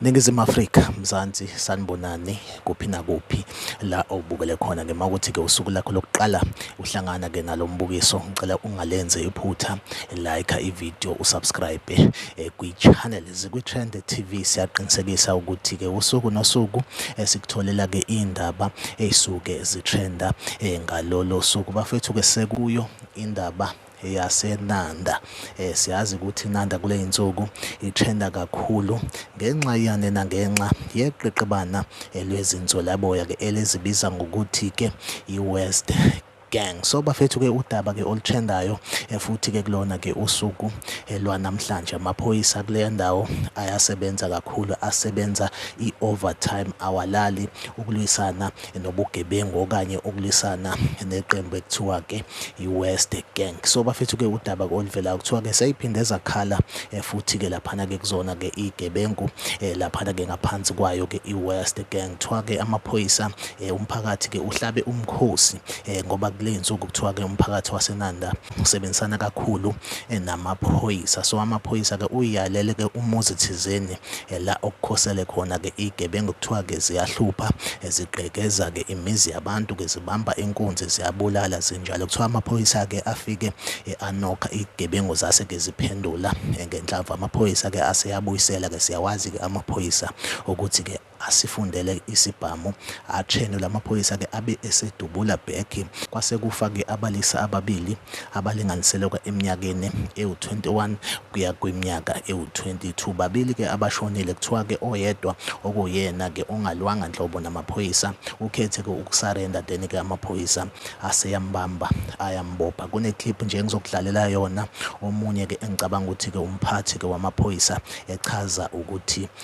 Ningizimu Afrika, Mzansi, sanibonani kuphi nakuphi la obukele khona ngema ukuthi ke usuku lakho lokuqala uhlangana ke nalombukiso ngicela ungalenze iphutha like ivideo usubscribe eh, kwi channel zikwi Trend TV siyaqinisekisa ukuthi ke usuku nosuku esikutholela eh, ke indaba ezisuke zitrenda eh, ngalolo suku bafethu ke sekuyo indaba yaseNanda. Eh, siyazi ukuthi iNanda kule yinsuku ithenda kakhulu ngenxa yani nangenxa yeqeqebana lwezinzolaboya-ke elizibiza ngokuthi-ke i-West gang so bafethu ke udaba ke oluthendayo eh, futhi ke kulona ke usuku eh, lwanamhlanje amaphoyisa kule ndawo ayasebenza kakhulu asebenza i-overtime awalali ukulwisana nobugebengu okanye ukulwisana neqembu ekuthiwa-ke i-West Gang. So bafethu-ke udaba-ke oluvelayo kuthiwa-ke seyiphinde zakhala eh, futhi-ke laphana-ke kuzona-ke iy'gebengu eh, laphana-ke ngaphansi kwayo-ke i-West Gang. Kuthiwa-ke amaphoyisa eh, umphakathi-ke uhlabe umkhosi ngoba kule nsuku kuthiwa-ke umphakathi waseNanda usebenzisana kakhulu eh, namaphoyisa so amaphoyisa-ke uyalele-ke umuzi thizeni eh, la okukhosele khona-ke iy'gebengu kuthiwa-ke ziyahlupha eh, zigqekeza-ke imizi yabantu-ke zibamba inkunzi ziyabulala zinjalo kuthiwa amaphoyisa-ke afike anokha iy'gebengu zase-ke ziphendula ngenhlava amaphoyisa-ke aseyabuyisela-ke siyawazi-ke amaphoyisa ukuthi-ke asifundele isibhamu atshenu lamaphoyisa ke abe esedubula bhekhi kwase kufa ke abalisa ababili abalinganiseleka eminyakeni ewu-21 kuya kwiminyaka ewu-22 babili ke abashonile kuthiwa ke oyedwa okuyena ke ongalwanga nhlobo namaphoyisa ukhethe ke ukusarenda then ke amaphoyisa aseyambamba ayambopha kuneclip nje engizokudlalela yona omunye ke engicabanga ukuthi ke umphathi ke wamaphoyisa echaza ukuthi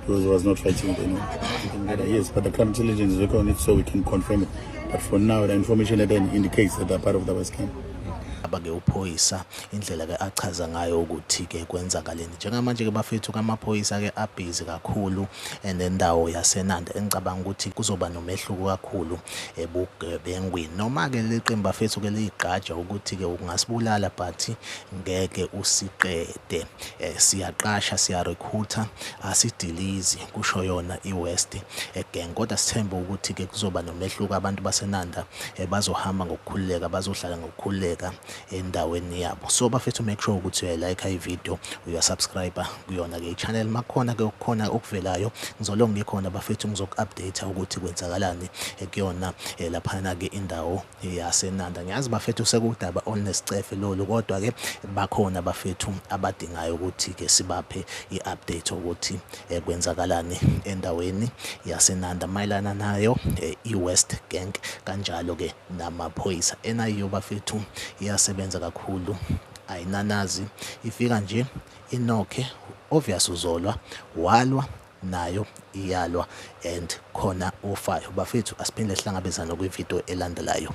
Because he was not fighting with anyone. Yes, but the crime intelligence is working on it so we can confirm it. But for now, the information at end indicates that they're part of the West Camp. abake uphoyisa indlela ke achaza ngayo ukuthi ke kwenzakaleni njengamanje ke bafethu kamaphoyisa ke abhizi kakhulu and endawo yasenanda engicabanga ukuthi kuzoba nomehluko kakhulu ebugebengwini noma ke leqembu bafethu ke liyigqaja ukuthi ke ungasibulala but ngeke usiqede Eh, siyaqasha siyarekhutha asidilizi kusho yona iwest eh, gang kodwa sithembe ukuthi ke kuzoba nomehluko abantu basenanda eh, bazohamba ngokukhululeka bazohlala ngokukhululeka endaweni yabo so bafethu make sure ukuthi uyayilike ivideo uyasubscribe kuyona ke ichannel makhona ke ukukhona okuvelayo ngizolonge khona bafethu ngizoku-update ukuthi kwenzakalani kuyona laphana ke indawo yasenanda ngiyazi bafethu sekudaba onescefe lolu kodwa ke bakhona bafethu abadingayo ukuthi ke sibaphe i-update ukuthi eh, kwenzakalani endaweni yasenanda mayelana nayo eh, i-west gank kanjalo ke namaphoyisa enayiyo bafethu iyasebenza kakhulu ayinanazi ifika nje inokhe obvious uzolwa walwa nayo iyalwa and khona ofayo bafethu asiphinde sihlangabezane kwivideo elandelayo